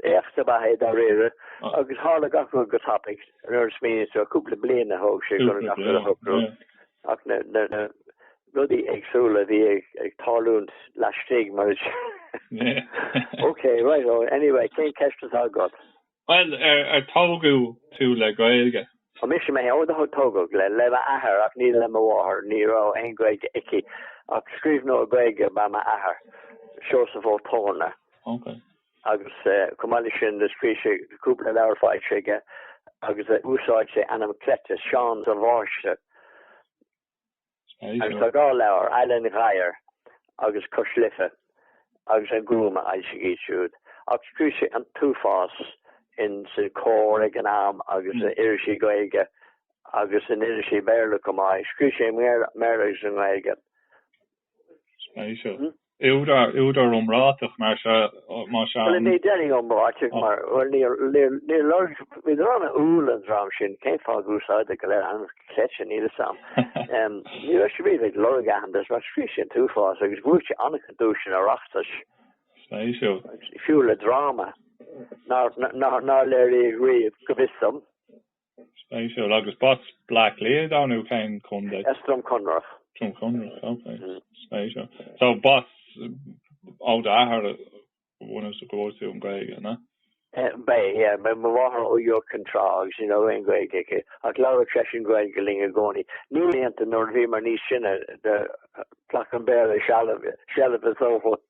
Éacht ab ea é dáiríre agus tharla gach rud go tapaidh, nuair a smaoiníonn tú ar chúpla bliain a thóg sé go raibh gach rud a shocrú ach na rudaí éagsúla a bhí ag tarlúint laistigh mar is eadh. Ok, right ho, anyway, cén ceist atá agat? Bhuel, ar tógadh tú le Gaeilge? Ó mise mé, ó tógadh, le m'athair ach ní le mo mháthair, ní raibh aon Ghaeilge aici ach scríbhneoir Gaeilge ab ea m'athair, Seosamh Ó Torna. Ok. agus chomh maith leis sin do scríobh sé cúpla leabhar faisge agus d'úsáid sé ainm cleite, Seán Sabháiste, agus tá dhá leabhar, Aill an Ghabhair agus Cois Life agus an Gúm, a fhoilsigh iad siúd, ach scríobh sé an t-uafás in san Comhar ag an am agus in irisí Gaeilge agus in irisí Béarla chomh maith, scríobh sé i mBéarla agus i nGaeilge. Spéisiúil. Údar, údar iomráiteach mar seo, má sea. Bhuel, ní déarfainn iomráiteach mar, bhuel, níor, níor, níor lorg, bhí dream an-umhal an dream sin, cén fáth gur úsáideadar go léir ainm cleite, níl 'fhios a'm. Ní raibh siad riamh ag lorg aitheantais mar scríobh siad an t-uafás agus bhuaigh sé an-chuid duaiseanna Oireachtais. Spéisiúil. Fiú le dráma nár, nár, nár léiríodh riamh, go bhfios dom. Spéisiúil. Agus b'as Bleá Cliath dó nó cén contae? As Droim Conrach. Droim Conrach, ok. Spéisiúil. So b'as, ó d'athair go bunúsach a fuair tú an Gaeilge, na? B'é, yeah. B'é mo mháthair ó Iúr Cinn Trá agus ní raibh aon Gaeilge aici. Ach labhradh seisean Gaeilge linn i gcónaí. Ní hiontas nuair a bhíomar níos sine, do ghlac an Béarla seilbh, seilbh de shórt.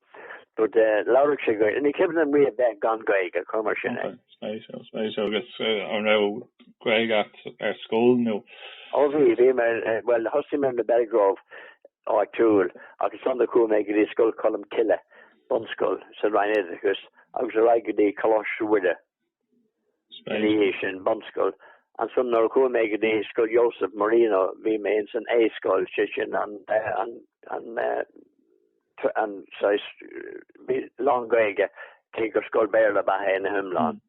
but labhradh sé Gaeilge. Ní cuimhin liom riamh bheith gan Gaeilge, cuir mar sin é. Okay, spéisiúil, spéisiúil. Agus an raibh Gaeilge agat ar scoil nó? Ó bhí, bhí mé, bhuel thosaigh mé ar na Belgrove áitiúil ach ansan do chuaigh mé go dtí Scoil Cholmcille, bunscoil sa Roinn Oideachais agus ar aghaidh go dtí Coláiste Mhuire. Sna laethe sin bunscoil, ansan nuair a chuaigh mé go dtí Scoil Joseph Marino, bhí mé ins an A-scoil, sé sin an an saghas lán Gaeilge cé gur scoil Béarla ab ea ina hiomlán.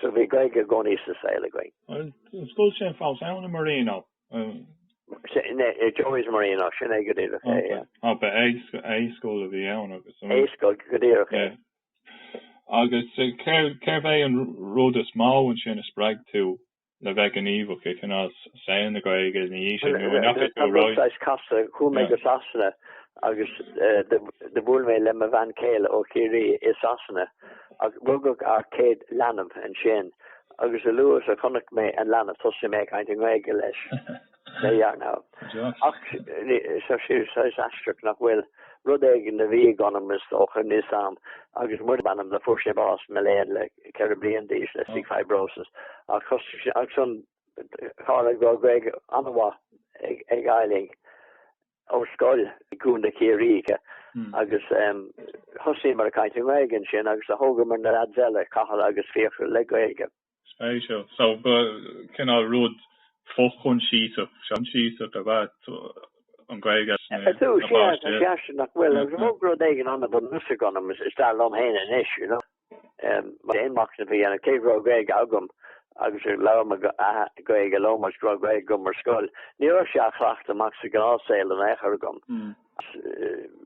So bhí Gaeilge i gcónaí sa saol againn. An scoil sin fós ann, an Marino? Joey's Marino, sin é go díreach é, yeah. Ba é A-scoil a bhí ann agus. A-scoil go díreach é. Agus cérbh é an rud is mó ansin a spreag tú le bheith gníomhach i gcineál saol na Gaeilge ina dhiaidh sin nó a ndeachaigh tú ar aghaidh? Saghas casta, chuaigh mé go Sasana agus do bhuail mé le mo bhean chéile ó Chiarraí i Sasana agus rugadh ár gcéad leanbh ansin agus a luaithe is a chonaic mé an leanbh thosaigh mé ag caint i nGaeilge leis. There you are now. Ach tá sé saghas aisteach nach bhfuil. Rud éigin a bhí ag an am, is dócha, níos sam agus muir ab ainm do. Fuair sé bás mo léan le ceithre bliain d'aois le cystic fibrosis ach ansin tharla go raibh Gaeilge an-mhaith ag ag Eileen ó scoil i gCo. Chiarraí aici agus thosaíomar ag caint i nGaeilge ansin agus a thógamar na leaids eile, Cathal agus Fiachra, le Gaeilge. Spéisiúil. So ba cineál rud fochoinsiasach, seanchiasach ab ea an Ghaeilge leis na páistí. Sea, sea, nach bhfuil? Agus thug rud éigin ann a bhfuil fhios agam, is dar liom féin anois, you know, aon mhachnamh faoi, cé go raibh Gaeilge agam agus labhair m'athair Gaeilge liom agus go raibh Gaeilge agam ar scoil, ní raibh sé á chleachtadh amach sa ghnáthshaol in aon chor agam.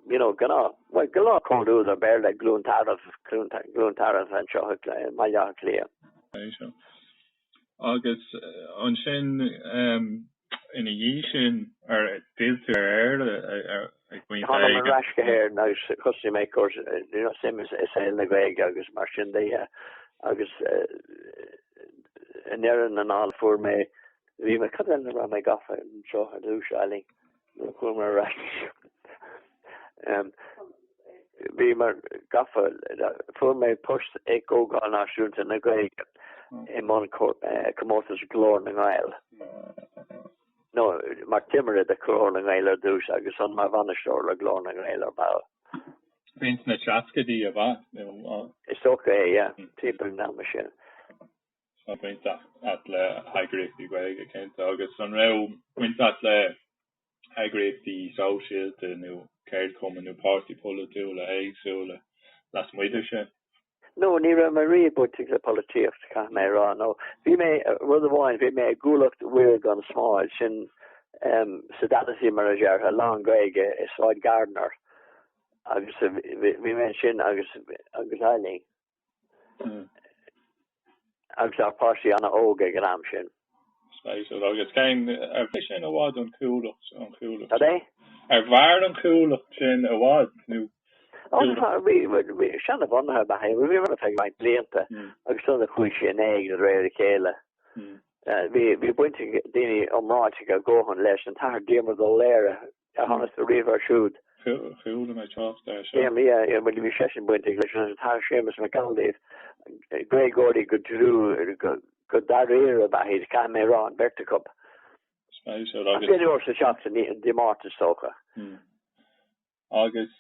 you know, gnáth, bhuel, gnáthchomhluadar Béarla, i gCluain Tarbh, i gCluain Tarbh anseo i mBaile Átha Cliath. Ó sea. Agus ansin, ina dhiaidh sin, ar d'fhill tú ar Éire ag pointe éigin? Tháinig mé ar ais go hÉirinn agus thosaigh mé ag cur, you know, suim i saol na Gaeilge agus mar sin de. Agus i ndeireadh na dála fuair mé, bhí mé, cad é a raibh mé gafa anseo ar dtús, Eileen? nuair a tháinig mé ar ais. Bhí mé gafa, fuair mé post ag Comhdháil Náisiúnta na Gaeilge i mbun comórtas Glór na nGael, nó mar timire de Ghlór na nGael ar dtús agus ann mar bhainisteoir le Glór na nGael ar ball. B'in sna seascaidí, ab ea? Is dócha é, yeah, timpeall an ama sin. Tá baint agat le heagraíochtaí Gaeilge, cinnte, agus an raibh baint agat le heagraíochtaí sóisialta nó ceardchumainn nó páirtithe polaitiúla éagsúla lasmuigh de sin? No, ní raibh mé riamh bainteach le polaitíocht, caithfidh mé a rá, nó bhí mé, rud amháin, bhí mé i gCuallacht Mhuire Gan Smál, sin sodality mar a déarfá, lán-Ghaeilge, i Sráid Gardiner, agus bhí mé ansin agus Eileen. Agus ár bpáistí an-óg ag an am sin. Spéisiúil. Agus cén, ar mhair sin i bhfad an chuallacht, an chuallacht sin? Cad é? Ar mhair an chuallacht sin i bhfad nó? Ó, bhí, bhí seanbhunaithe, bhuel, bhí mé ann ar feadh roinnt blianta agus sular chuaigh sí in éag de réir a chéile, bhí, bhí baint ag daoine iomráiteacha a dhóthain leis, an tAthair Diarmuid Ó Laoghaire, aithne agatsa riamh air siúd? Chuala mé trácht air, sea. Diarmuid, yeah, bhuel, bhí seisean bainteach leis an Athair Séamus Mac Amhlaoibh, Gaeilgeoirí go dlú go dáiríre ab ea iad, caithfidh mé a rá, an bheirt acu. Spéisiúil agus. Aon uair sa seachtain, Dé Máirt is dócha. Agus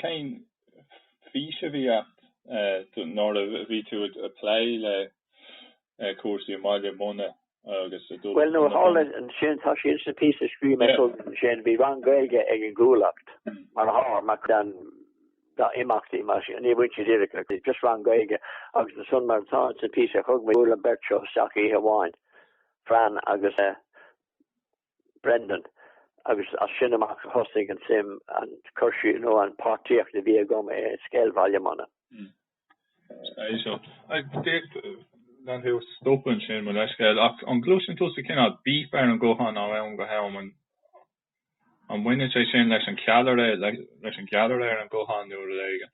cén fís a bhí agat nuair a bhí tú ag plé le cúrsaí i mBaile Munna agus. Bhuel, nuair a tharla ansin, tá sé insa píosa a scríobh mé chugat ansin, bhí rang Gaeilge ag an gCuallacht, mar pháirt, mar cheann dá imeachtaí, mar sin, ní bhain sé díreach le cúrsaí, just rang Gaeilge, agus ansan, mar atá insa píosa a thug mé, bhuail an beirt seo isteach oíche amháin, Fran agus. Brendan, agus as sin amach a thosnaigh an suim, an cur síos nó an páirtíocht a bhí agam i scéal Bhaile Munna. Hm. Is é seo. Gan tú a stopadh ansin, mo leithscéal, ach an gcloiseann tusa cineál bíp ar an ghuthán ó am go ham? An mbaineann sé sin leis an cheallra, leis an gceallra ar an ghuthán nó rud éigin?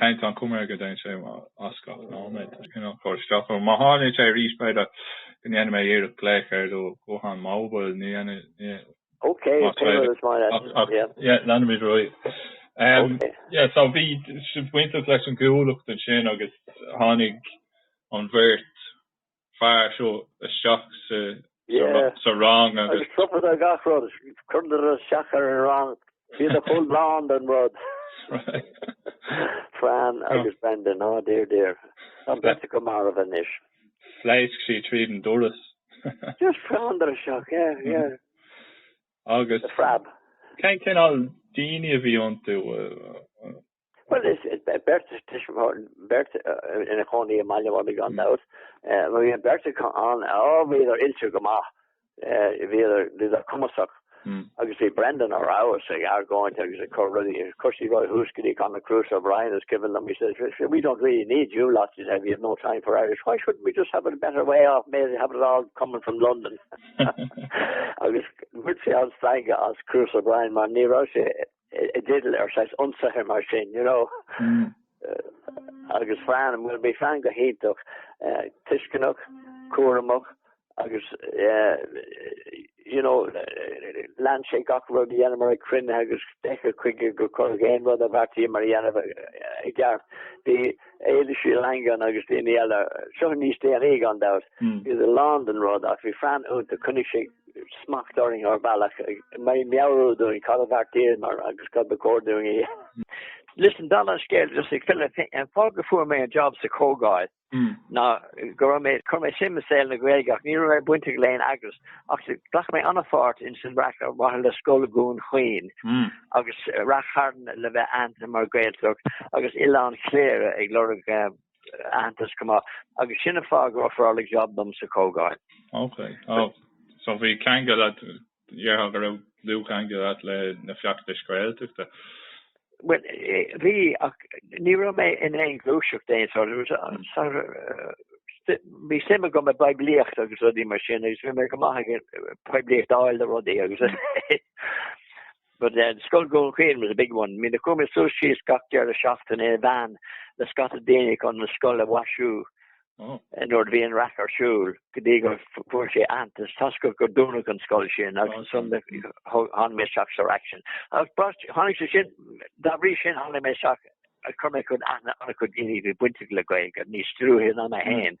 Tá an chuma air go dtéann sé as gach nóiméad. Cineál cur isteach orm. Má tharlaíonn sé arís, b'fhéidir go ndéanfaidh mé iarracht glaoch ar do ghuthán móbail, ní dhéanfaidh. Ok, yeah. Ach, yeah, leanfaimid ar aghaidh. Em, yeah, so bhí sibh bainteach leis an gCuallacht ansin agus tháinig an bheirt fear seo isteach sa rang agus. Agus stopadar gach rud, chuireadar isteach ar an rang, bhíodar chomh lán den rud. Fran agus Brendan, oh dear dear, tá an bheirt acu marbh anois. Phléasc sí tríd an doras. Just Fran ar isteach, yeah, yeah. Agus. Frab. Cén cineál daoine a bhí iontu? Bhuel, is beirt tuismitheoirí, beirt ina chónaí i mBaile Munna gan dabht. Bhí an beirt acu ann, bhíodar oilte go maith, bhíodar cumasach agus bhí Brendan ar fheabhas ag argóint agus ag cur rudaí, cúrsaí Roy Húscairí, Conor Cruise O'Brien, is cuimhin liom, he says, we don't really need you lot, he said, we have no time for Irish, why shouldn't we just have a better way off, maybe have it all coming from London? agus bhain sé an-stangadh as Cruise O'Brien mar ní raibh sé i dteideal ar saghas ionsaithe mar sin you know agus Fran, bhuel, bhí Fran go hiontach tuisceanach, cúramach agus you know lean sé gach rud a dhéanamar ag cruinnithe agus d'fheiceadh chuige gur cuireadh aon rud a bheartaíomar a dhéanamh i gceart. Bhí Éilís Uí Langáin agus daoine eile, seo níos déanaí gan dabht, iad lán den rud ach bhí Fran iontach, coinnigh sé smacht orainn ar bhealach, ag meabhrú dúinn cad a bheartaíomar agus cad ba chóir dúinn a dhéanamh. Listen, dála an scéil just ag filleadh féin, an fáth gur fuair mé an job sa Chomhdháil ná go raibh mé, chuir mé suim i saol na Gaeilge ach ní raibh mé bainteach le haon eagras ach ghlac mé an-pháirt ins an raic ar mhaithe le Scoil Dhún Chaoin agus Ráth Chairn le bheith aitheanta mar Ghaeltacht agus Oileán Chléire ag lorg aitheantas go maith agus sin an fáth gur ofráladh job dom sa Chomhdháil. Ok. Ó, so bhí ceangal agat, déarfá go raibh dlúthcheangal agat le na feachtais Gaeltachta? Bhuel, bhí, ach ní raibh mé in aon ghluaiseacht d'aon sort. Bhí suim agam i bpoiblíocht agus rudaí mar sin agus bhí mé go maith ag poiblíocht a fháil do rudaí agus But Scoil Dhún Chaoin was a big one. I mean, chuaigh mé suas síos gach deireadh seachtaine i veain le scata daoine chun an scoil a mhaisiú nuair a bhí an raic ar siúl go dtí gur fuair sé aitheantas toisc gur dúnadh an scoil sin agus ansan tháinig mé isteach sa raic sin. Agus tháinig sé sin, dá bhrí sin tháinig mé isteach, chuir mé cuid aithne ar chuid daoine a bhí bainteach le Gaeilge, níos dlúithe ná mé féin.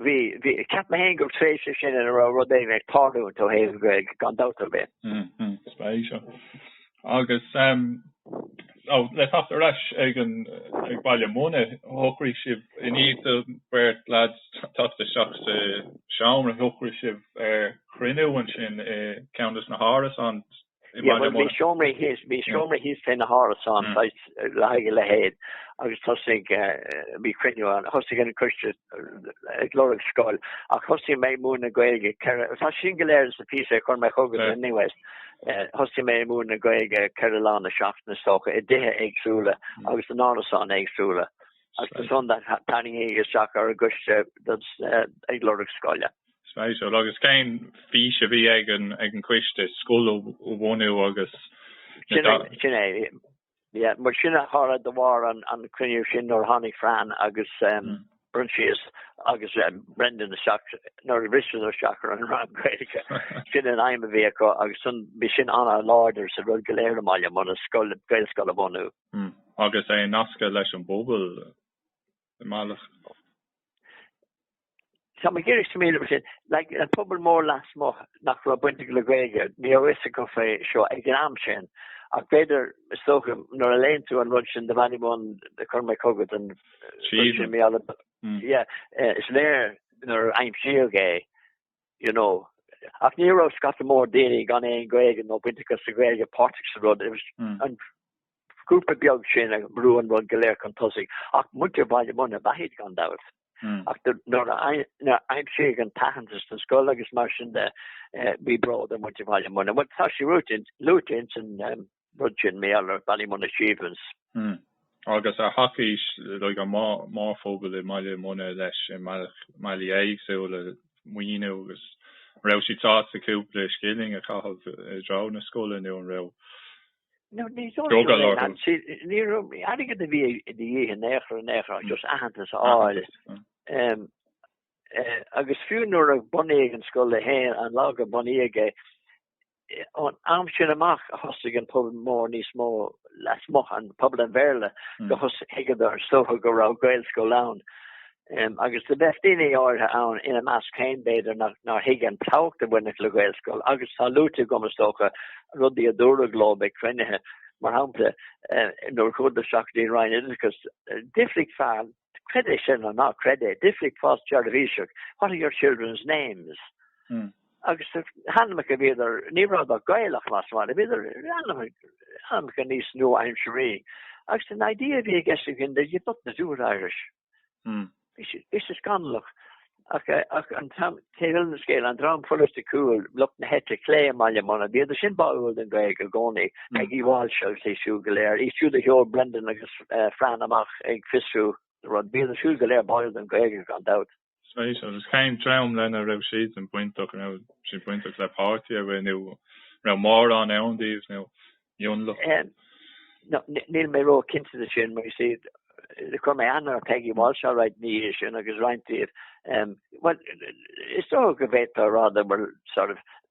bhí, bhí, ceapaim féin gur tréimhse é sin ina raibh rud éigin ag tarlú ó thaobh na Gaeilge gan dabht ar bith. Mm-hmm, spéisiúil. Agus ehm, so, le theacht ar ais ag an, ag Baile Munna, shocraigh sibh, i ndiaidh do bheirt lads teacht isteach sa seomra, shocraigh sibh ar chruinniú ansin i ceann de na hárasáin, Bhí seomraí thíos, bhí seomraí thíos fé na hárasáin, saghas le haghaidh a leithéid agus thosaigh, bhí cruinniú ann, thosaigh an coiste ag lorg scoil ach thosaigh mé ag múineadh Gaeilge ceithre, tá sin go léir sa phíosa a chuir mé chugat anyways, thosaigh mé ag múineadh Gaeilge ceithre lá na seachtaine is dócha, i dtithe éagsúla agus in árasáin éagsúla agus ansan tháinig mé isteach ar an gcoiste ag lorg scoile. Spéisiúil. Agus cén fís a bhí ag an choiste scoil a bhunú agus na. Sin é. Yeah, mar sin tharla de bharr an cruinniú sin nuair a tháinig Fran agus Proinsias agus Brendan isteach nuair a bhriseadar isteach ar an rang Gaeilge. Sin an aidhm a bhí acu agus san bhí sin an-láidir sa rud go léir i mBaile Munna, scoil, Gaelscoil a bhunú. Agus é nasctha leis an bpobal. i mbealach. Tá mé ag iarraidh go, I mean, like an pobal mór lasmuigh nach raibh bainteach le Gaeilge, ní raibh fhios acu faoi seo ag an am sin ach b'fhéidir, is dócha nuair a léann tú an rud sin the Ballymun a chuir mé chugat an ríomhphost yeah is léir nuair a aimsíodh é you know. Ach ní raibh scata mór daoine gan aon Gaeilge nó baint acu le Gaeilge páirteach sa rud, it was an grúpa beag sin a bhrú an rud go léir chun tosaigh, ach muintir Bhaile Munna ab ea iad gan dabht. Ach nuair a aimsíodh an t-aitheantas don scoil agus mar sin de, bhí bród ar muintir Bhaile Munna. Bhuel, tá sí luaite ins an. rud sin, mar Ballymun Achievements. Hmm. Agus ar thacaigh an mórphobal i mBaile Munna leis i mbealaí éagsúla, maoiniú agus. An raibh siad sásta cúpla scilling a chaitheamh i dtreo na scoile nó an raibh drogall orthu? Ní raibh ní airgead a bhí de dhíth in aon chor, in aon chor, just aitheantas a fháil. Agus fiú nuair a bunaíodh an scoil, an lá gur bunaíodh é, ón am sin amach a thosaigh an pobal mór níos mó lasmuigh, pobal an Bhéarla, go thos- thuigeadar is dócha go raibh Gaelscoil ann agus do bheadh daoine áirithe ann, ina measc féin b'fhéidir, nár thuig an tábhacht a bhainfeadh le Gaelscoil agus tá luaite agam, is dócha, rudaí a dúradh leo ag cruinnithe, mar shampla, nuair a chuadar isteach go dtí an Roinn Oideachais, d'fhiafraigh fear, creid é sin nó ná creid é, d'fhiafraigh fear státseirbhíseach, what are your children's names? Agus na hainmneacha a bhíodar, ní rabhadar Gaelach lasmuigh, mar bhíodar ainmneacha níos nua-aimsirí. Agus an idea a bhí i gceist againn, they did not do it Irish. Bhí sé scannalach. Ach an t-am, taobh eile den scéal, an dream polaitiúil, lucht na heite clé i mBaile Munna, bhíodar sin báúil don Ghaeilge i gcónaí, Peggy Walsh agus iad siúd go léir, iad siúd a sheol Brendan agus Fran amach ag fiosrú an rud, bhíodar siúd go léir báúil don Ghaeilge gan dabht. Spéisiúil, cén dream lena raibh siad sin bainteach, an raibh siad bainteach le páirtí ar bith nó an raibh mórán ann díobh nó mionlach? No níl mé ró-chinnte de sin, mar is iad, chuir mé aithne ar Peggy Walsh all right ina dhiaidh sin agus roinnt díobh, bhuel, is dócha go bhféadfá a rá, that were sort of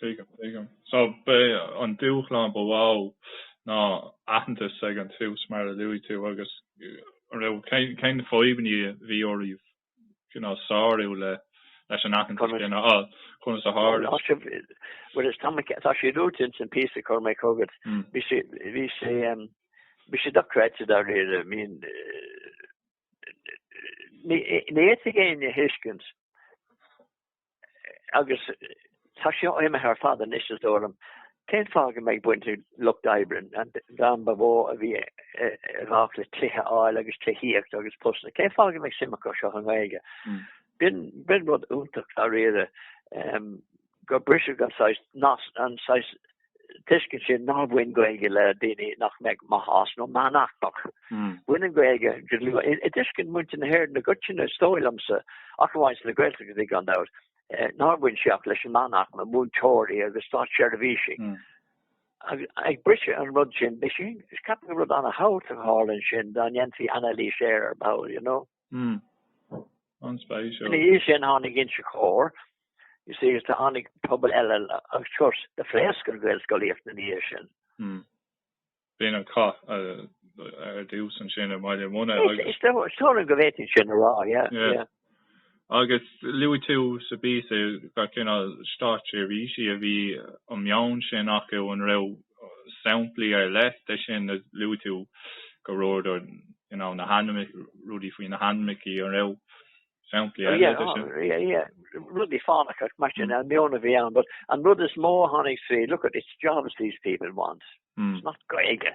Tuigim, tuigim. So, b'é an dúshlán ba mhó ná aitheantas ag an tús, mar a luaigh tú, agus an raibh, cén, cén na fadhbanna a bhí oraibh, you know, sárú le, leis an aitheantas, Conas- sin a fháil? Conas a tharla? Tá sé, bhuel tá mé- tá sé luaite ins an píosa a chuir mé chugat. Mm. Bhí sé, bhí sé, em, bhí sé dochreidte dáiríre, I mean, eh, ní ní fhéadfadh éinne é a thuiscint agus tá seo imithe ar fad anois is dóigh liom, cén fáth go mbeadh baint ag lucht oibre an dream ba mhó a bhí ag baint le tithe a fháil agus tithíocht agus postanna, cén fáth go mbeadh suim acu seo i nGaeilge? B'in rud iontach dáiríre gur briseadh an saghas tuiscint sin nár bhain Gaeilge le daoine nach mbeadh maith as nó meánaicmeach. Bhain an Ghaeilge go luí i dtuiscint muintir na hÉireann i gcoitinne, is dóigh liomsa, ach amháin sna Gaeltachtaí gan dabht, nár bhain sé ach leis an meánaicme, múinteoirí agus státseirbhísigh agus briseadh an rud sin. Is ceapaim gur rud an-tábhachtach a tharla ansin dá ndéanfaí anailís air ar ball, you know. Ina dhiaidh sin tháinig Inse Chór, you see, agus tháinig pobal eile agus of course do phléasc an Ghaelscolaíocht ina dhiaidh sin. B'in an cath ar dtús ansin i mBaile Munna agus. Is dóigh liom go bhféadfainn sin a rá, yeah. Agus luaigh tú sa bpíosa gur cineál státseirbhísigh a bhí an meon sin acu, an raibh samplaí ar leith de sin luaigh tú go rabhadar na hainm rudaí faoi na hainmneachaí, an raibh samplaí eile de sin? Yes, yes, rudaí fánacha mar sin, an meon a bhí ann, but an rud is mó a tháinig tríd, look at, it's jobs these people want, it's not Gaeilge.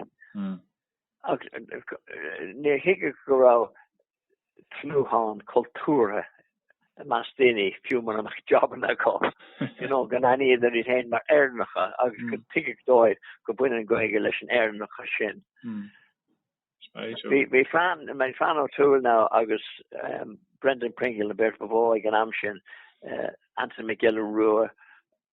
Ach níor thuigeadh go raibh tnúthán cultúrtha i measc daoine, fiú mura mbeadh jabanna acu, you know, go n-aithníodar iad féin mar Éireannacha agus go dtuigeadh dóibh go mbaineann an Ghaeilge leis an Éireannachas sin. Bhí Flann O'Toole now agus Brendan Pringle na beirt ba mhó ag an am sin, Anthony Mac Giolla Rua,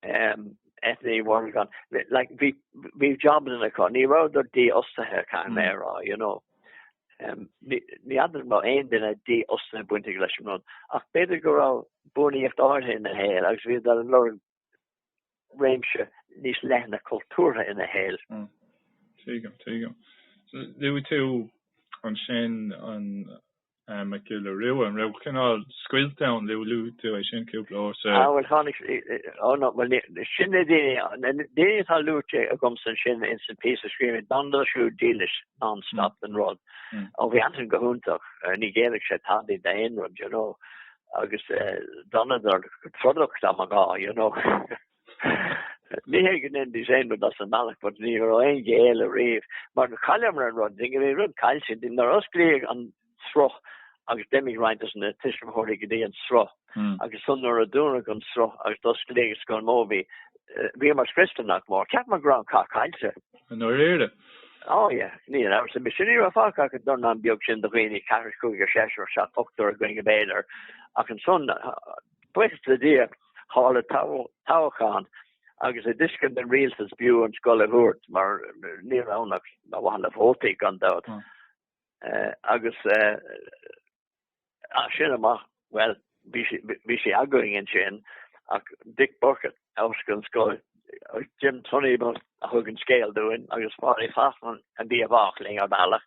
Eithne Morgan, like bhí bhí jobanna acu, ní rabhadar dífhostaithe tá mé a rá you know. Um ní fheadar má aon duine dífhostaithe bainteach leis an rud ach b'fhéidir go raibh buannaíocht áirithe ina shaol agus bhíodar ag lorg réimse níos leithne cultúrtha ina shaol. Tuigim, tuigim. Luaigh tú ansin an Mac Giolla Rua, an raibh cineál scoilt ann, luaigh tú é sin cúpla uair sa. Ah bhuel tháinig, oh no, bhuel sin na daoine, na daoine atá luaite agamsa ansin ins an píosa a scríobh mé, d'fhanadar siúd dílis non-stop don rud, ó bhí Antain go hiontach, ní ghéillfeadh sé tada d'aon rud, you know, agus d'fhanadar go trodach dá mba ghá, you know. Ní hé go ndéanfaidís aon rud as an mbealach, but ní raibh aon ghéilleadh riamh. Mar do chailleamar an rud, dá mbeadh rud caillte, nuair a osclaíodh an sruth agus d'imigh roinnt de na tuismitheoirí go dtí an sruth agus ansan nuair a dúnadh an sruth agus d'osclaíodh an scoil mór bhí bhíomar scriosta nach mór. Cheapamar go raibh an cath caillte. I ndáiríre? Á ya, níl aon amhras ar bith. Sin ní raibh fágtha ach an dornán beag sin de dhaoine, ceathrar, cúigear, seisear, seachtar, ochtar againn b'fhéidir ach ansan Buíochas le Dia tharla toghchán agus i dtuiscint an rialtais b'fhiú an scoil a thabhairt mar ní raibh ann ach ar mhaithe le vótaí gan dabht agus as sin amach, bhuel, bhí sí againn ansin ach Dick Búrca a fhoscail an scoil, Jim Tunney a thug an scéal dúinn agus Pádraig Fachtna a bhí i bhfách linn ar bhealach.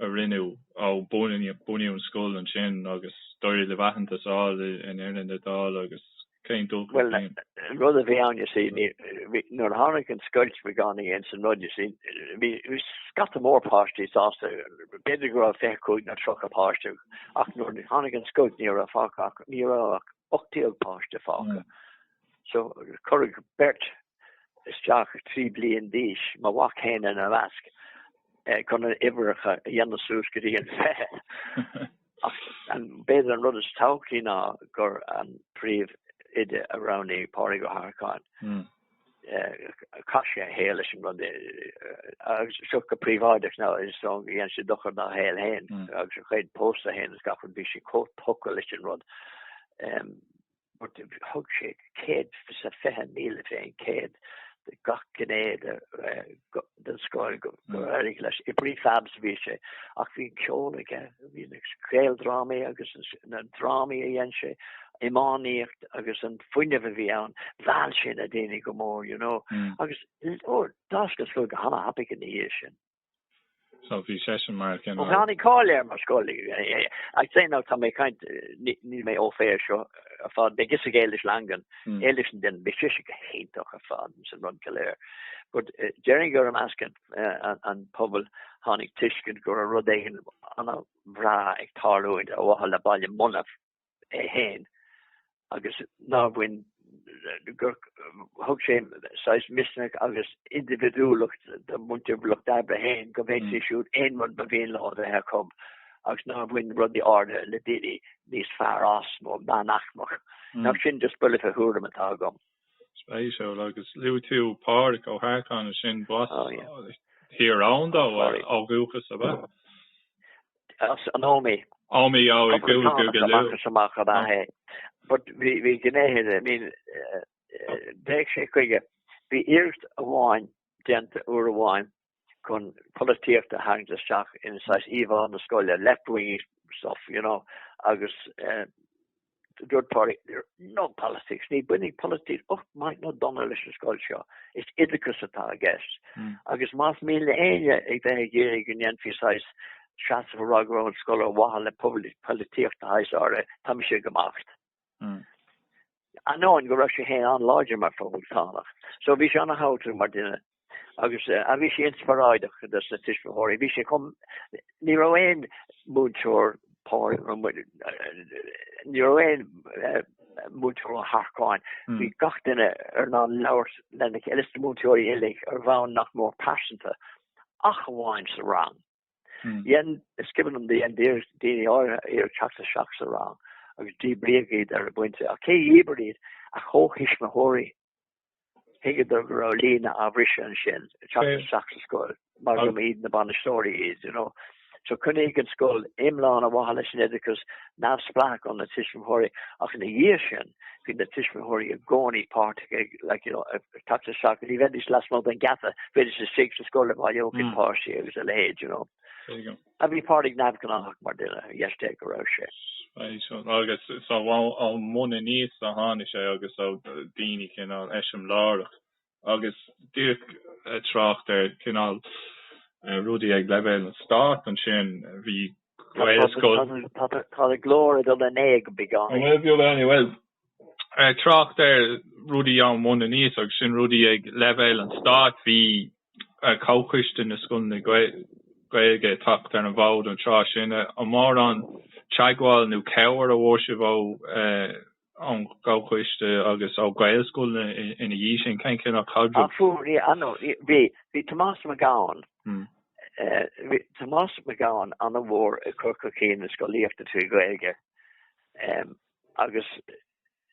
a rinneadh ó bunaíodh an scoil ansin agus d'éirigh libh aitheantas a fháil in Éirinn, a fháil agus cén dúch go dtí an. Bhuel, an rud a bhí ann, you see, ní, bhí, nuair a tháinig an scoilt bhí gan i gcéin san rud, you see, bhí, bhí scata mór páistí sásta, b'fhéidir go raibh 25 nó 30 páiste ach nuair a tháinig an scoilt ní raibh fágtha ach, ní raibh ach 18 páiste fágtha. So, cuireadh beirt isteach, trí bliain d'aois, mo mhac féin ina measc, chun a n-uimhreacha a dhéanamh suas go dtí an fiche. Ach b'fhéidir an rud is tábhachtaí ná gur an príomhoide a roghnaíodh Pádraig Ó hEarcáin. Hmm. Eh, chaith sé a shaol leis an rud eh, agus seo go príobháideach anois so dhein sé dochar dá shaol féin hmm. agus a chuid pósta féin is gach rud bhí sé chomh tógtha leis an rud. but thug sé céad is fiche míle fén gcéad do gach gné den scoil gur éirigh leis. I prefabs a bhí sé ach bhí an ceol aige, bhí na ceoldrámaí agus na drámaí a dhein sé, iománaíocht agus an fuinneamh a bhí ann, mheall sé na daoine go mór, you know, agus d'fhás an scoil go han-thapaidh ina dhiaidh sin. so bhí seisean mar a chinneadh. Tháinig cáil air mar scoil. I'd say now, tá mé ag caint, níl mé au fait seo ar fad, beidh fhios ag Éilis Langan, Éilis an duine, beidh sise go hiontach ar fad ins an rud go léir, but déarfainn gur i measc an phobail tháinig tuiscint go raibh rud éigin an-bhreá ag tarlúint ar mhaithe le Baile Munna. é fhéin agus nár bhain, gur thug sé saghas misneach agus indibhidiúlacht do mhuintir lucht oibre fhéin go bhféadfaidís siúd aon rud ba mhian leo a bheith acu agus nár bhain rudaí áirithe le daoine níos fearr as nó meánaicmeach. Nach sin just buille fé thuairim atá agam. Spéisiúil agus luaigh tú Pádraic Ó hEarcáin, sin b'as Tír Eoghain dó ó dhúchas ab ea? As an Ómaigh. Ómaigh, oh, i gCúige Uladh. Is amach is amach ab ea é. But bhí gnéithe, I mean, d'fhéach sé chuige, bhí iarracht amháin déanta uair amháin chun polaitíocht a tharraingt isteach in saghas íomhá na scoile, left-wing stuff, you know, agus Dúirt Pádraig, No politics, ní bhainfidh politics olc maith nó dona leis an scoil seo, is oideachas atá i gceist. Agus más mian le héinne a bheith ag iarraidh go ndéanfaí saghas seasamh a rá go raibh an scoil ar mhaithe le polaitíocht de shaghas áirithe, tá mise ag imeacht. Ainneoin go raibh sé féin an-láidir mar Phoblachtánach. So bhí sé ana-thábhachtach mar duine. agus a bhí sé inspioráideach do na tuismitheoirí. Bhí sé chomh, ní raibh aon mhúinteoir Power, ní raibh aon mhúinteoir Ó hEarcáin, bhí gach duine ar ann ag labhairt lena chéile, is na múinteoirí uilig ar bhonn nach mór pearsanta, ach amháin sa rang. Dhein, is cuimhin liom gur dhein daoine áirithe iarraidh teacht isteach sa rang agus díbríodh iad ar an bpointe, ach cé dhíbir iad ach comhthuismitheoirí Thuigeadar go raibh líne á bhriseadh ansin, teacht isteach sa scoil, mar go mb'iad na bainisteoirí iad, you know. So choinnigh an scoil iomlán ar mhaithe leis an oideachas, neamhspleách ar na tuismitheoirí, ach ina dhiaidh sin, bhí na tuismitheoirí i gcónaí páirteach, like, you know, ag teacht isteach, ní bheidís lasmuigh den gheata, bheidís istigh sa scoil ag bailiúchán páistí agus a leithéid, you know. a bhí Pádraig neamhghnáthach mar duine, ar dheis Dé go raibh sé. Agus is ón mbun aníos a tháinig sé agus ó daoine cineál eiseamláireach agus díreach ag trácht ar cineál rudaí ag leibhéal an stáit ansin bhí Gaelscoil, tá a ghlór ag dul in éag go beagán. trácht ar rudaí ón mbun aníos agus sin rudaí ag leibhéal an stáit. Bhí Comhchoiste na Scoileanna Gaeilge ag teacht ar an bhfód an tráth sin. An mórán teagmháil nó cabhair a bhfuair sibh ón gComhchoiste agus ó Ghaelscoileanna ina dhiaidh sin? Cén cineál caidreamh? Fuair, ambaist, bhí, bhí Tomás Mac Gabhann, bhí Tomás Mac Gabhann an-mhór ag cur chun cinn na scolaíochta trí Ghaeilge. Agus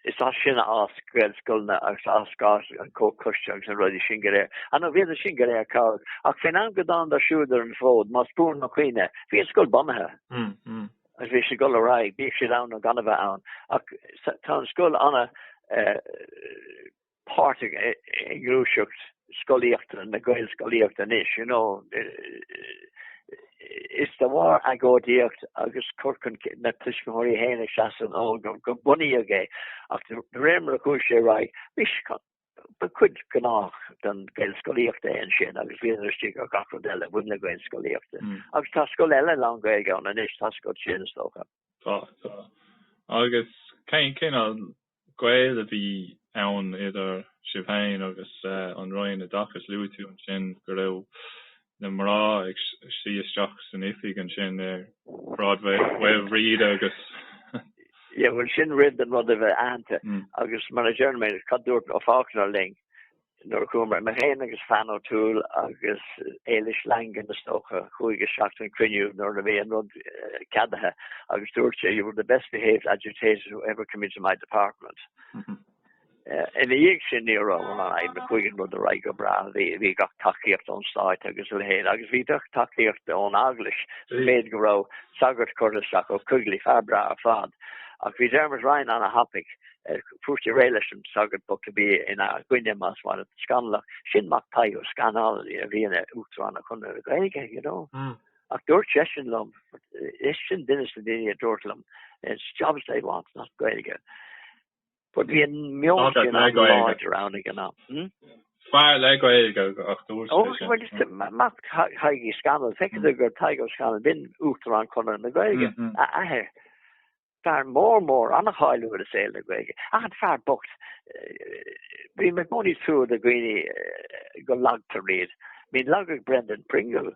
is as sin a d'fhás Gaelscoileanna agus a d'fhás, an Comhchoiste agus na rudaí sin go léir. Anois bhí iad sin go léir cabhrach. Ach faoin am go dtánadar siúd ar an bhfód, más buan mo chuimhne, bhí an scoil bunaithe. Agus bhí sé ag dul ar aghaidh, bíodh siad ann nó gan a bheith ann. Ach tá an scoil an-. páirteach i ngluaiseacht scolaíochta na Gaelscolaíochta anois, you know, is de bharr agóidíocht agus cur chun cinn na tuismitheoirí féin as éisean ó gur bunaíodh é ach de réir mar a chuaigh sé ar aghaidh, bhí sé go, ba chuid ghnách den Ghaelscolaíocht é ansin agus bhíodar istigh ar gach rud eile a bhain le Gaelscolaíocht agus tá scoil eile lán-Ghaeilge ann anois, tá scoil sin is dócha. Tá, tá. Agus cén cineál gaol a bhí ann idir sibh féin agus an Roinn Oideachais. Luaigh tú ansin go raibh na mná ag suí isteach san oifig ansin ar Shráid Mhaoilbhríde agus. Yeah, bhuel, sin roimh don rud a bheith aitheanta, agus mar a deir mé, cad dúirt, ó, Faulkner linn? Nuair a chuamar, mé féin agus Fan O'Toole agus Éilis Langan is dócha, chuaigh isteach don chruinniú nuair a bhí an rud ceadaithe agus dúirt sé, 'you were the best behaved agitators who ever come into my department'. Ina dhiaidh sin ní raibh aon, chuaigh an rud ar aghaidh go breá, bhí gach tacaíocht ón Stát agus a leithéid agus bhí gach tacaíocht ón Eaglais, sa mhéid go raibh sagart curtha isteach Ó Coigligh, fear breá ar fad. Ach bhí Dermot Ryan ana-thapaidh Fuair sé réidh leis an sagart bocht a bhí ina gcoinne, más maith leat, Scannalach. Sin mac Thaidhg Ó Scannail a bhí ina Uachtarán ar Chonradh na Gaeilge, you know. Ach dúirt seisean liom, is sin duine dos na daoine a dúirt liom, it's jobs they want, not Gaeilge. But bhí an meon sin an-láidir ann ag an am. Hmm? Fear le Gaeilge ach dúirt oh, seisean. Ó, bhuel mac Thaidhg Uí Scannail, feiceann gur Tadhg Ó Scannail b'in Uachtarán Conradh na Gaeilge, mm-hmm. a athair. Fear mór mór an-cháiliúil i saol na Gaeilge, ach an fear bocht, bíonn i gcónaí trua do dhaoine go lagtar iad. I mean lagaigh Brendan Pringle,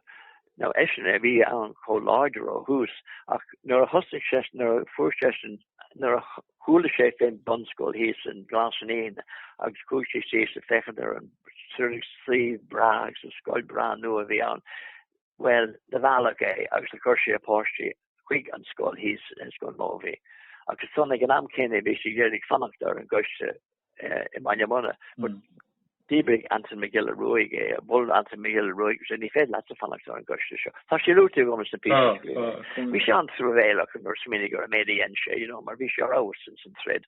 now eisean a bhí ann chomh láidir ó thús, ach nuair a thosaigh sé, nuair a fuair sé, nuair a chuala sé fén bunscoil thíos in Glas Naíon agus chuaigh sé síos ag féachaint ar an suíomh breá agus an scoil breá nua a bhí ann, Bhuel, do mealladh é agus do chuir sé a pháistí chuig an scoil thíos, Scoil Mobhí, ach ansan ag an am céanna bhí sé ag iarraidh fanacht ar an gcoiste i mBaile Munna but dhíbrigh Anton Mac Giolla Ruaidh é, bhuel Anton Mac Giolla Ruaidh agus é ní féidir leatsa fanacht ar an gcoiste seo. Tá sé luaite agam sna píosaí. Bhí sé an-truamhéalach nuair a smaoinigh ar an méid a dhein sé, you know, mar bhí sé ar fheabhas ins an troid.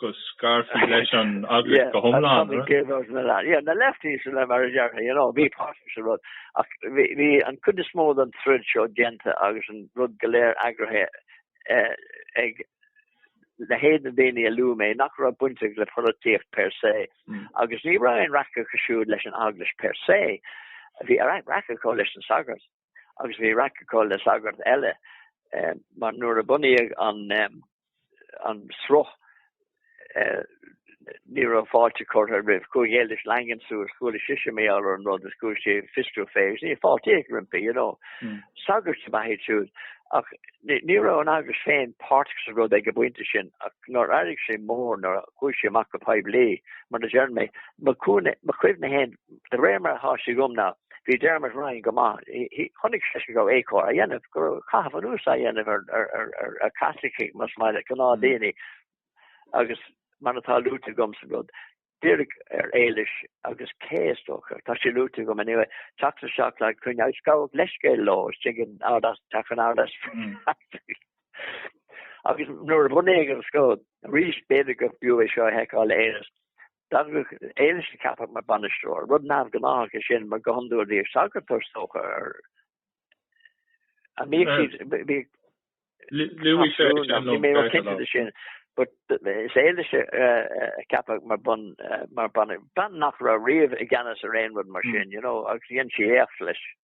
go scarfaí leis an eaglais go hiomlán. Tommy Gaylord and the lot. Yeah, na lefties and them mar a déarfá, you know, bhí páirteach sa rud. Ach bhí an chuid is mó den troid seo déanta agus an rud go léir eagraithe ag leithéid na daoine a luaigh mé nach raibh baint acu le polaitíocht per se agus ní raibh aon raic acu siúd leis an eaglais per se. Bhí raic acu leis an sagart. agus bhí raic acu le sagart eile mar nuair a bunaíodh an sruth ní raibh fáilte curtha roimh chuaigh Éilis Langan suas, chuala sise mar gheall ar an rud is chuaigh sí ag fiosrú fé is níor fáiltíodh roimpi, you know. Sagairt ab ea iad siúd ach ní raibh an eaglais féin páirteach sa rud ag an bpointe sin ach nuair a d'éirigh sé mór nuair a chuaigh sé amach go poiblí mar a deir mé, mo chuimhne féin De réir mar atá sé agam ná bhí Dermot Ryan go maith, chonaic seisean go raibh éagcóir á dhéanamh, go raibh caitheamh anuas á dhéanamh ar Chaitlicigh más maith leat, gnáthdhaoine agus mar atá luaite agam sa rud, iarradh ar Éilis agus cé, is dócha, tá sé luaite agam anyway, teacht isteach le coinne agus gabhadh leithscéal leo istigh in Ard Easpaig, Teach an Ard Easpaig. Agus nuair a bunaíodh an scoil, arís b'fhéidir go mb'fhiú é seo a sheiceáil a Aonghus, D'eagraigh Éilis a ceapadh mar bhainisteoir, rud neamhghnách é sin mar go hiondúil bhíodh sagart is dócha ar a mbíodh siad, bhíodh Louis sé sin níl mé cinnte de sin. But is Éilis a ceapadh mar bun mar bean nach raibh riamh i gceannas ar aon rud mar sin, you know, agus dhéan sí éacht leis.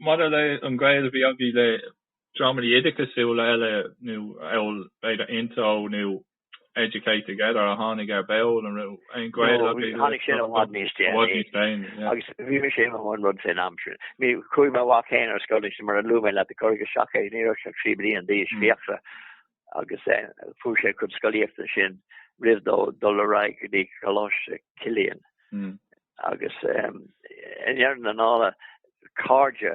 Maidir le an gaol a bhí agaibh le dreamanna oideachasúla eile nó bhuel b'fhéidir INTO nó Educate Together a tháinig ar ball, an raibh aon gaol agaibh le Tháinig sin i bhfad níos déanaí. I bhfad níos déanaí, yeah. Agus bhí mise i mo bhun rud fén am sin. Bhí, chuaigh mo mhac féin ar scoil, mar a luaigh mé leat, chuig an Seachtar, ní raibh sé ach trí bliana d'aois, Fiachra. agus fuair sé a cuid scolaíochta sin roimh dó dul ar aghaidh go dtí Coláiste Chilliain agus i ndeireadh na dála cairde,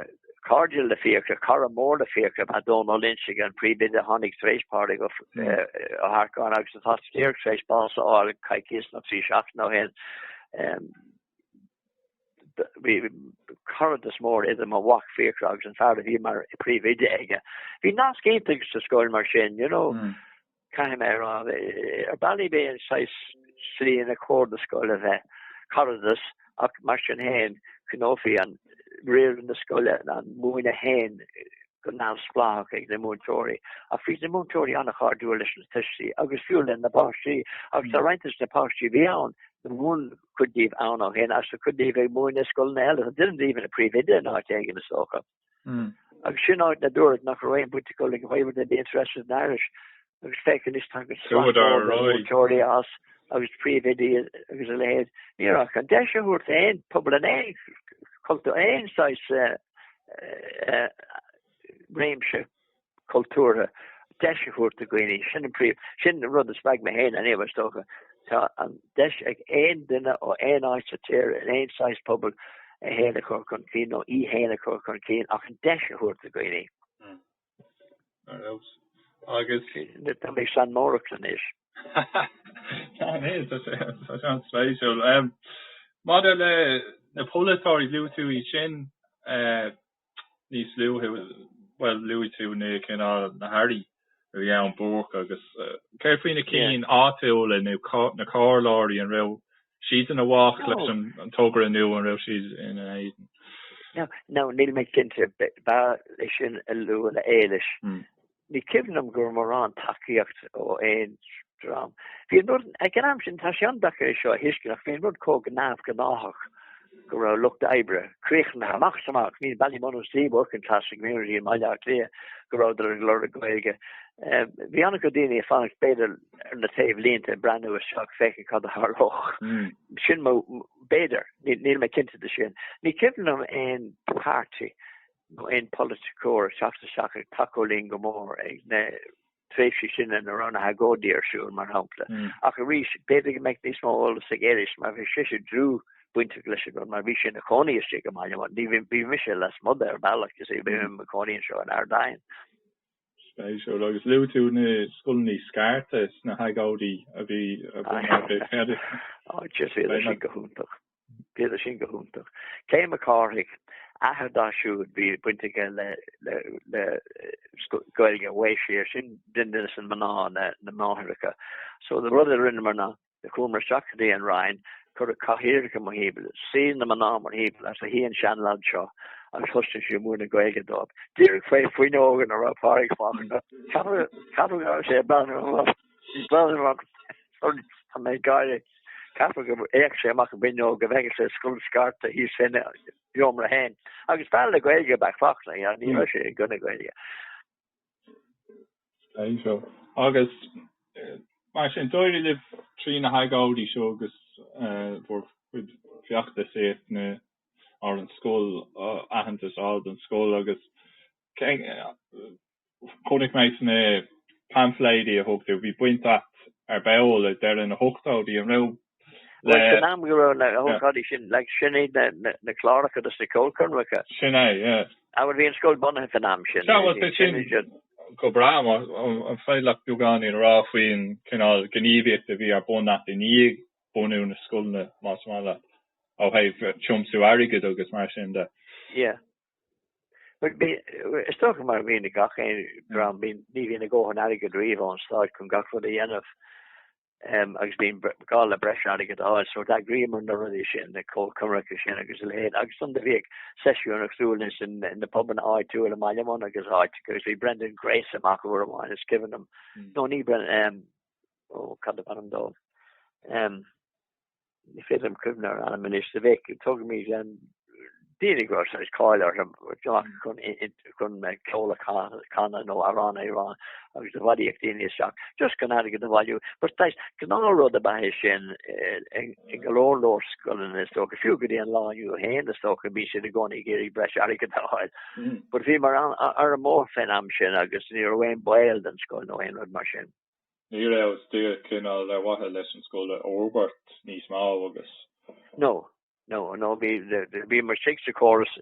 cairde le Fiachra, cara mór le Fiachra, mar Dónal Ó Loingsigh an príomhoide a tháinig tar éis Pádraig Ó hEarcáin agus atá díreach tar éis bás a fháil coicíos nó trí seachtaine ó shin. bhí caradas mór idir mo mhac Fiachra agus an fear a bhí mar príomhoide aige. Bhí nasc iontach sa scoil mar sin, you know, mm. caithfidh mé a rá ar bhealaí b'é an saghas slí inar cóir don scoil a bheith caradas ach mar sin héin coinneofaí an riar na scoile an múineadh héin go neamhspleách ag na múinteoirí ach bhí na múinteoirí ana-chairdiúil leis na tuistí agus fiú le na páistí agus tá roinnt des na páistí a bhí ann ag múineadh cuid díobh ann ó shin agus tá cuid díobh ag múineadh i scoileanna eile. Tá duine díobh ina príomhoide in áit éigin, is dócha. Agus sin áit a dúradh nach raibh aon bhaint acu le Gaeilge, wouldn't be interested in Irish agus féach anois tá an sraith mór de mhúinteoirí as agus príomhoidí agus a leithéid. Ní raibh ach an deis a thabhairt d'aon phobal in aon cultúr, aon saghas réimse. cultúrtha deis a thabhairt do dhaoine. Sin an príomh, sin an rud a spreag mé féin anyhow, is dócha. Tá an deis ag aon duine ó aon áit sa tír, in aon saghas pobail, é féin a chur chun cinn nó í féin a chur chun cinn ach an deis a thabhairt do dhaoine. Ar nós agus. Tá mé ag seanmóireacht anois. Tá, níl, tá sé, tá sé an-spéisiúil. Maidir le na polaiteoirí, luaigh tú iad sin, níos luaithe, bhuel, luaigh tú na cinn, na hairí a bhí ann, Búrc agus. Céard faoi na cinn áitiúla nó na comhairleoirí, an raibh siad ina bhfách leis an togra nó an raibh siad ina éadan? No, níl mé cinnte, b'fhearr é sin a lua le Éilis. Ní cuimhin liom go raibh mórán tacaíocht ó aon dream. Bhí an rud, ag an am sin, tá sé an-deacair é seo a thuiscint ach bhí an rud chomh neamhghnáthach go raibh lucht oibre críochnaithe amach 's amach, bhí Ballymun is the working class community i mBaile Átha Cliath, go rabhadar ag lorg Gaeilge. Bhí an-chuid daoine ag fanacht b'fhéidir ar na taobhlínte ag breathnú isteach féachaint cad a tharlódh. Sin mo, b'fhéidir, níl mé cinnte de sin. Ní cuimhin liom aon party. nó aon pholaiticeoir ag teacht isteach ag tacú linn go mór ag na tréimhsí sin ina raibh na hagóidí ar siúl, mar shampla. Ach arís, b'fhéidir go mbeadh níos mó eolas ag Éilis, mar bhí sise dlúthbhainteach leis an mar bhí sí ina cónaí istigh i mBaile Munna, bhí mise lasmuigh de ar bhealach, you see, bhí mé i mo chónaí anseo in Ard Aidhin. Spéisiúil. Agus luaigh tú na scoileannaí scairte sna hagóidí a bhí ar bith eile. Ó jeez, bhíodar sin go hiontach. Bhíodar sin go hiontach. Kay Mac Cárthaigh, athair dá siúd, bhí baint aige le Gaeilge, bhí sí ar, sin duine de na mná, na máithreacha. So an rud a rinneamar ná, Do chuamar isteach go dtí an Roinn, cuireadh cathaoireacha mórthimpeall, shuigh na mná mórthimpeall, is shuigh an seanleaid seo agus thosaigh sé ag múineadh Gaeilge dóibh, díreach faoi fuinneog ina raibh Pádraig Faulkner. Ceapaim go raibh sé ag breathnú amach, ag breathnú amach sorry, tá mé ag gáire, ceapaim gur fhéach sé amach an fhuinneog go bhfeicfeadh sé scoil scairte thíos faoina sheomra féin. Agus fear le Gaeilge ab ea Faulkner, ní raibh sé i gcoinne Gaeilge. Agus mar sin, d'éirigh libh trí na hagóidí seo agus bhur gcuid feachtasaíochta ar an scoil, aitheantas a fháil don scoil agus chonaic mé sna paimfléidí a thug tú, bhí baint agat ar ball ag deireadh na hochtóidí, an raibh? Bhuel, sin am go raibh na hócáidí sin, like, sin iad na, na, na cláracha agus na ceolchoirmeacha. Sin é, yeah. Á, bhí an scoil bunaithe faoin am sin. Sea, bhuel, sé sin go breá, an féidir leat beagáinín a rá faoin cineál gníomhaíochta a bhí ar bun agat i ndiaidh bunú na scoileanna, más maith leat, ó thaobh tiomsú airgid agus mar sin de? Yeah. Bhuel, bhí, is dócha mar a bhíonn ag gach aon dream, bhí, ní bhíonn a dhóthain airgid riamh ón Stáit chun gach rud a dhéanamh. agus bíonn gá le breis airgid a fháil, so d'eagraíomar na rudaí sin, na ceolchoirmeacha sin agus a leithéid, agus ansan do bhíodh seisiúin ar siúl ins na pubanna áitiúla i mBaile Munna agus áit, agus bhí Brendan Grace amach uair amháin, is cuimhin liom, nó ní Brendan, ó, cad ab ainm dó? Ní féidir liom cuimhneamh ar ainm anois, sa mhéid go dtugaimid daoine go raibh cáil orthu chun ceol a chanadh nó amhrán a rá agus a bhailíodh daoine isteach just chun airgead a bhailiú. Gnáthrud ab ea é sin i go leor leor scoileanna is dócha, fiú go dtí an lá inniu féin is dócha go mbíonn siad i gcónaí ag iarraidh breis airgid a fháil. But bhíomar ar an mbóthar fén am sin agus ní raibh aon baol don scoil nó aon rud mar sin. Ní raibh ach still cineál ar mhaithe leis an scoil a fhorbairt níos mó agus. No. No. No. Bhíomar istigh sa chóras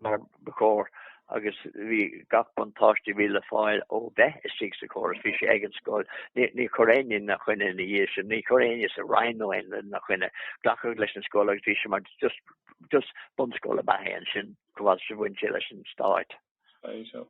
mar ba chóir agus bhí gach buntáiste a bhí le fáil ó bheith istigh sa chóras, bhí sé ag an scoil. Níor chuir éinne ina choinne ina dhiaidh sin, níor chuir éinne sa Roinn nó aon rud ina choinne. Glacadh leis an scoil agus bhí sé mar just bunscoil ab ea é ansin, chomh fada is a bhain sé leis an Stát. Spéisiúil.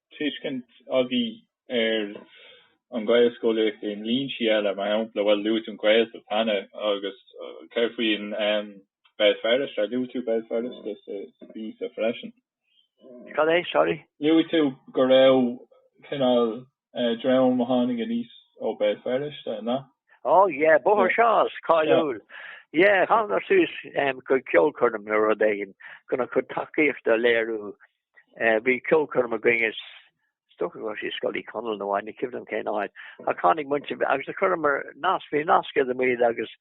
tuiscint agaibh ar an Ghaelscolaíocht i ndlínsí eile, mar shampla, bhuel, luaigh tú an Ghaeltacht cheana, agus céard faoi Béal Feirste, ar luaigh tú Béal Feirste sa bpíosa freisin? Cad é, sorry? Luaigh tú go raibh cineál dream a tháinig aníos ó Béal Feirste, nó? Oh yeah, Bóthar Shaw's, cáiliúil. Yeah, thánadar suas chuig ceolchoirm nó rud éigin chun a gcuid tacaíochta a léiriú. Bhí ceolchoirm againn, is dócha go raibh sí i Scoil Uí Chonaill nó ní cuimhin liom cén áit, ach tháinig muintir bhí, agus do chuireamar nasc, bhí nasc idir muid agus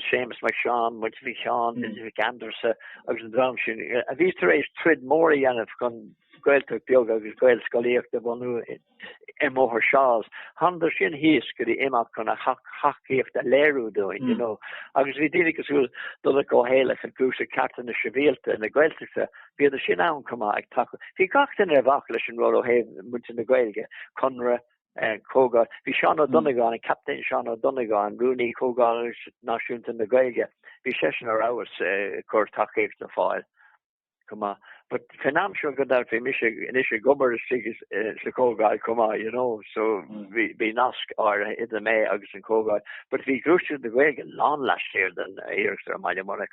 Séamus Mac Seáin, muintir Mhic Sheáin, muintir Mhic Aindreasa agus an dream sin, a bhí tar éis troid mór a dhéanamh chun Gaeltacht beag agus Gaelscolaíocht a bhunú i mBóthar Shaw's. Thánadar sin thíos go dtí imeacht chun a thacaíocht a léiriú dúinn, you know, agus bhí daoine cosúil le Donncha Ó hÉallaithe i nGluaiseacht cearta na sibhialta na Gaeltachta, bhíodar sin ann chomh maith ag tacú. Bhí gach duine a bhac leis an ról ó thaobh muintir na Gaeilge, Conradh, Comhdháil. Bhí Seán Ó Donnagáin, an Captaen Seán Ó Donnagáin, Rúnaí Chomhdháil Náisiúnta na Gaeilge, bhí seisean ar fheabhas ag cur tacaíocht ar fáil. chomh maith. But fén am seo gan dabht bhí mise anois ag obair istigh sa chomhdháil chomh maith, you know, so bhí nasc áirithe idir mé agus an chomhdháil. But bhí Gluaiseacht na Gaeilge lán laistiar den iarracht i mBaile Munna,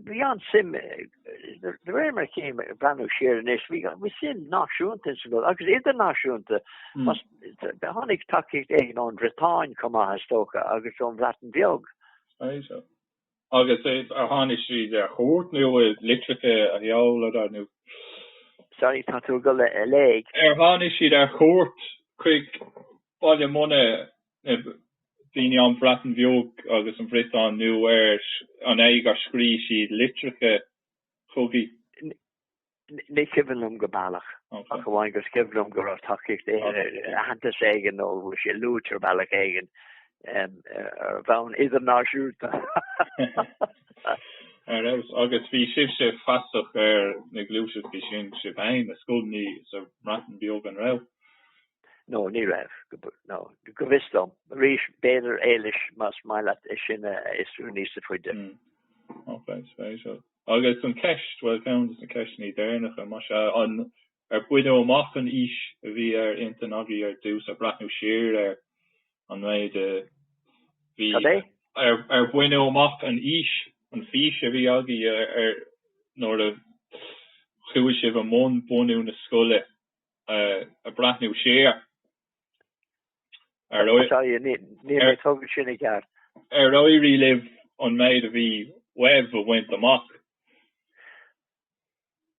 bhí an-suim, de réir mar a chím ag breathnú siar anois, bhí suim náisiúnta ins an gcomhdháil agus idirnáisiúnta. Tháinig tacaíocht éigin ón Bhriotáin chomh maith is dócha agus ón Bhreatain Bheag. Agus ar tháinig siad ar chuairt nó litreacha a sheoladar nó? Sorry, tá do ghlór lag. Ar tháinig siad ar chuairt chuig Baile Munna, na daoine ón Bhreatain Bheag agus an Bhriotáin, nó an é gur scrígh siad litreacha chugaibh? Ní cuimhin liom go baileach, ach amháin gur cuimhin liom go raibh tacaíocht aitheantas éigin nó go raibh sé luaite ar bhealach éigin ar bhonn idirnáisiúnta. Ar nós, agus bhí sibhse feasach ar na gluaiseachtaí sin, sibh fhéin, na scoileanna sa mBreatain Bheag, an raibh? No, ní raibh, no, go bhfios dom. Arís, b'fhéidir, Éilis, más maith leat é sin a fhiosrú níos faide. Ócáid spéisiúil. Agus an cheist, bhuel, ceann de na ceisteanna deireanacha, más ea, an ar baineadh amach an fhís a bhí ar intinn agaibh ar dtús, ag breathnú siar ar an méid a bhí, Cad é? ar ar baineadh amach an fhís, an fhís a bhí agaibh ar nuair a chuaigh sibh i mbun bunú na scoile, ag breathnú siar Ar éirí libh an méid a bhí uaibh a bhaint amach?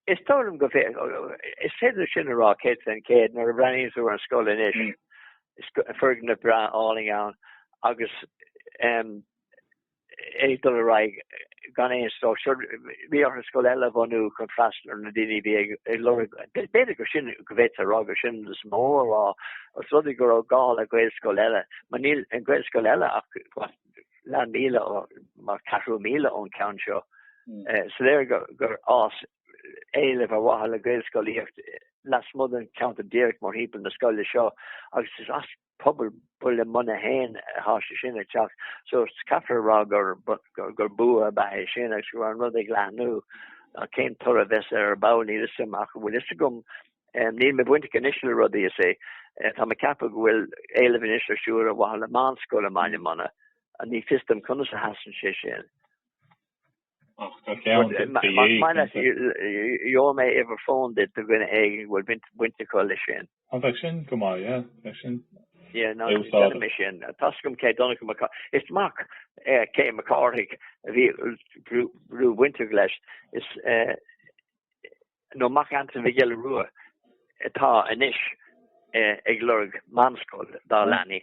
Is dóigh liom go, is féidir sin a rá céad faoin chéad, nuair a bhreathnaíonn tú ar an scoil anois, is foirgneamh breá álainn ann agus, ag dul ar aghaidh gan aon stró. So, bhí orthu scoil eile a bhunú chun freastal ar na daoine a bhí ag lorg, b'fhéidir gur sin, go bhféadfá a rá gur sin is mó, ah, os rud é go raibh gá le Gaelscoil eile. Mar níl an Ghaelscoil eile ach leathmhíle ó, mar ceathrú míle ón ceann seo. So is léir gur fhás éileamh ar mhaithe le Gaelscolaíocht lasmuigh den cheantar díreach mórthimpeall na scoile seo agus is as, pobal baile munna fhéin atá sé sin ag teacht so caithfear a rá gur gur bua ab ea é sin agus go raibh an rud ag leathnú ach cén toradh a bheas air ar ball níl fhios a'm ach an bhfuil fhios agam níl mé bainteach anois le rudaí is é tá mé ag ceapadh go bhfuil éileamh anois ar siúl ar mhaithe le meánscoil i mbaile munna agus ní fios dom conas a sheasann sé sin Ach tá ceann de do dhéag, cinnte. Gheobhaidh mé uimhir fóin duit do dhuine éigin go bhfuil baint acu leis sin. Ó, bheadh sin go maith, yeah, bheadh sin úsáideach. Tá súil agam Kay Donncha Mac Cárthaigh. Is mac Kay Mhic Cárthaigh a bhí dlúthbhainteach leis, nó mac Antain Mhic Giolla Rua atá anois ag lorg meánscoil dá leanaí.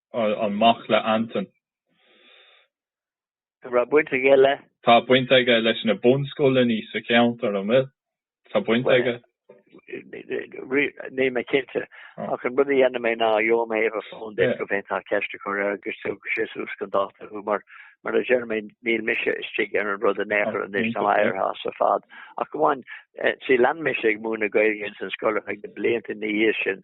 an mac le Anton. An raibh baint aige le? Tá baint aige leis na bunscoileanna sa cheantar, an bhfuil? Tá baint aige? Níl mé cinnte, ach an rud a dhéanfaidh mé ná gheobhaidh mé uimhir fóin duit go bhféadfá ceist a chur air agus tabharfaidh sé suas chun dáta thú, mar, mar a deir mé, níl mise istigh ar an rud in aon chor anois, tá mé aistrithe as ar fad. Ach go on, see, lean mise ag múineadh Gaeilge ins an scoil ar feadh na blianta ina dhiaidh sin,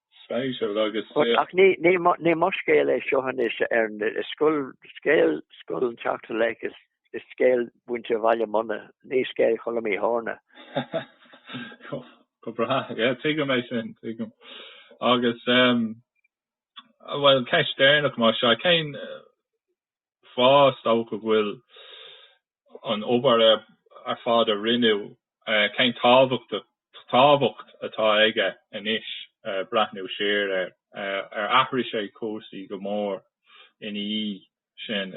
Speisialta agus. Ach ní mo scéal é seo anois ach scéal Scoil an tSeachtú Laoch is scéal mhuintir Bhaile Munna, ní scéal Cholm Uí Thorna. Go breá. Tuigim é sin, tuigim. Agus, bhuel, ceist deireanach mar sin, cén fáth, is dócha, go bhfuil an obair ar fad a rinneadh, cén tábhacht atá aige anois breathnú siar air? Ar athraigh sé cúrsaí go mór ina dhiaidh sin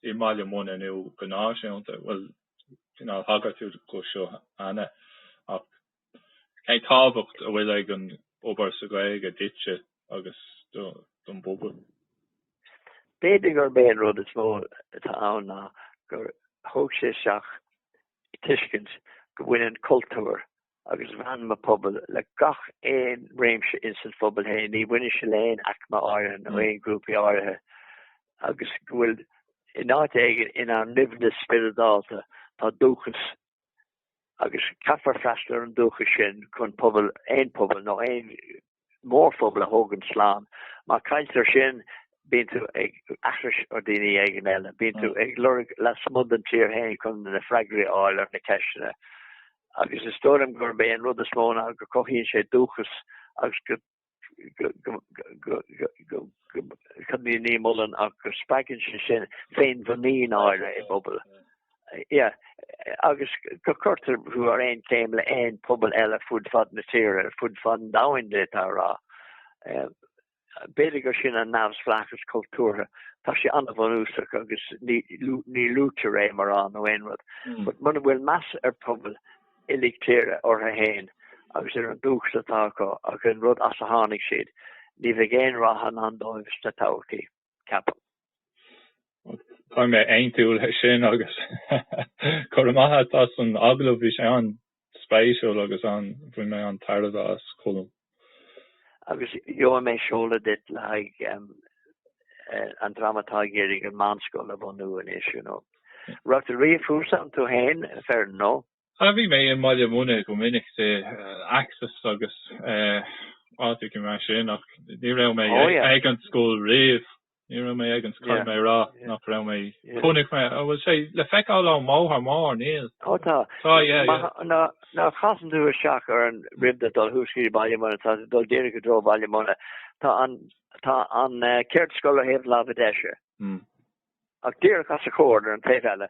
i mBaile Munna nó go náisiúnta? Bhuel, cineál thagair tú dó seo cheana ach. Cén tábhacht a bhfuil ag an obair seo Gaeilge duitse agus don bpobal? B'fhéidir gurb é an rud is mó atá ann ná gur thug sé isteach tuiscint go mbaineann cultúr agus meanma pobail le gach aon réimse ins an phobal féin, ní bhaineann sé le haon aicme áirithe nó aon ghrúpaí áirithe, agus go bhfuil in áit éigin ina ndoimhneas spioradálta tá dúchas agus caithfear freastal ar an dúchas sin chun pobal, aon phobal nó aon mhórphobal a thabhairt slán. Má chailltear sin, bíonn tú ag aithris ar dhaoine éigin eile, bíonn tú ag lorg lasmuigh den tír féin chun na freagraí a fháil ar na ceisteanna. Agus is dóigh liom gurb é an rud is mó ná go gcothaíonn sé dúchas agus go gcuimhní muileann ach go spreagann sé sin féinmhuinín áirithe i bpobal. agus go gcuirtear thú ar aon chéim le aon pobal eile fud fad na tíre, fud fad an domhain d'fhéadfá a rá. B'fhéidir gur sin an neamhspleáchas cultúrtha, tá sé an-bhunúsach agus ní luaitear é mórán nó aon rud. But muna bhfuil meas ar phobal, uilig tíre orthu fhéin agus ar an dúchas atá acu agus an rud as a tháinig siad ní bheidh aon rath i ndán dóibh sa todhchaí, ceapaim. Tá mé an-tsúil sin agus go raibh maith agat as an agallamh, bhí sé an-spéisiúil agus bhain mé an-tairbhe as, Colm. agus gheobhaidh mé seoladh duit le haghaidh an dream atá ag iarraidh an mheánscoil a bhunú anois, you know. Raibh tú riamh thuas ann tú féin, a fhir, nó? Ah, bhí mé i mBaile Munna go minic san Axis agus áiteacha mar sin, ach ní raibh mé ag an scoil riamh. Ní raibh mé ag an scoil, caithfidh mé a rá nach raibh mé. Chonaic mé, an bhfuil sé le feiceáil ón mbóthar mór, níl? Ó tá. Tá, yeah, yeah. Nuair a chasann tú isteach ar an ramp ag dul thuas trí Bhaile Munna, tá tú dul díreach i dtreo Bhaile Munna, tá an, tá an cheardscoil ar thaobh láimhe deise. Ach díreach as a chomhair ar an taobh eile,